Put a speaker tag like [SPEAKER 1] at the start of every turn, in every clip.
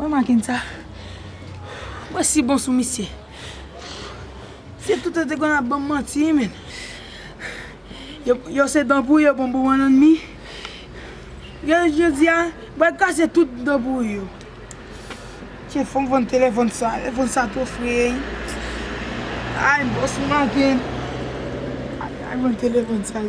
[SPEAKER 1] Mwen manke sa. Mwen si bon sou misye. Se tout an te konn ap banm manti men. Yo se dan pouri yo pran pou bann anmi. Gade jodi a, m pral kase tout dan pouri yo. Tiye fòm vann telefòn sa. Telefòn sa two free. Ay bòs m manke. Ay vann telefòn sa.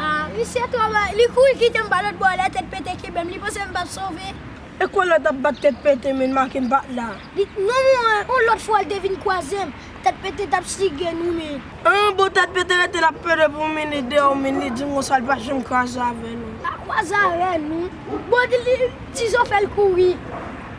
[SPEAKER 1] Ah misye
[SPEAKER 2] travay li kouri kitem pa lotbò lè tèt pete kenbem li panse mpap sove. E kwen lan tap
[SPEAKER 1] bat tèt pete men make mpat la. Li t non mwen yon
[SPEAKER 2] lot fwa li te vin kwazem tèt pete tap sige nou men. An bon tèt pete
[SPEAKER 1] rete lap pede pou min li deyò min li dim konsa li pa janm kwaze avè nou. Pa kwaze avè
[SPEAKER 2] nou. Bon dil ti zo fèl kouri.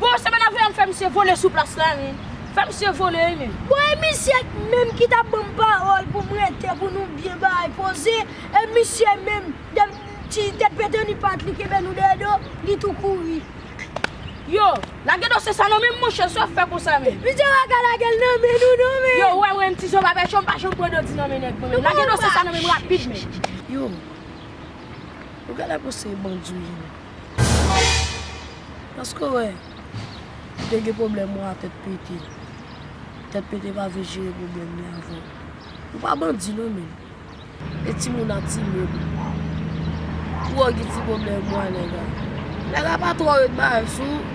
[SPEAKER 3] Bon se mennaj ou yal fè misye vole sou plas la ui, fè misye vole ui menn. Bon e misye
[SPEAKER 2] menm ki tap banm pawòl poum rete pou nou byen bay poze e misye menm depi ti tèt pete ni pat li kenbe nou dèyè do li tou kouri. Yo,
[SPEAKER 3] lage dosye sa nan menm monchè sa w fè konsa menm. Misye pa ka lagel
[SPEAKER 2] nan men nou non menn. Yo ou wèm renmn ti zoba
[SPEAKER 3] pèchon m pa janm pran doti nan men nèg mwen menm lage dosye sa nan menm rapid menm. Yo, ou genlè panse e bandi ou ye menm. Eske ou wè, ou te gen pwoblèm ou a tèt pete. Tèt pete pa vle jere pwoblèm li avè w. Ou pa bandi non men. E timoun a ti moun. Ou wè w gen ti pwoblèm ou a nèg la. Nèg la pa twò ret bay sou ou.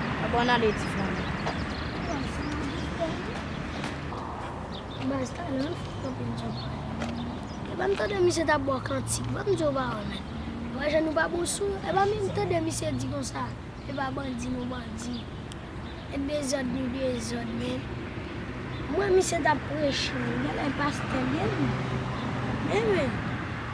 [SPEAKER 3] Apa nan de ti
[SPEAKER 2] fanmi. Baz talan fò anpil Jomba. Epa m tande misye tap bo kantik banm di w pa wè men. Wè jan nou pa bon son epa menm tande misye di konsa epa bandi nou bandi e dezòd nou dezòd men. M wè misye tap preche wi genlè pastè l ye wi men men.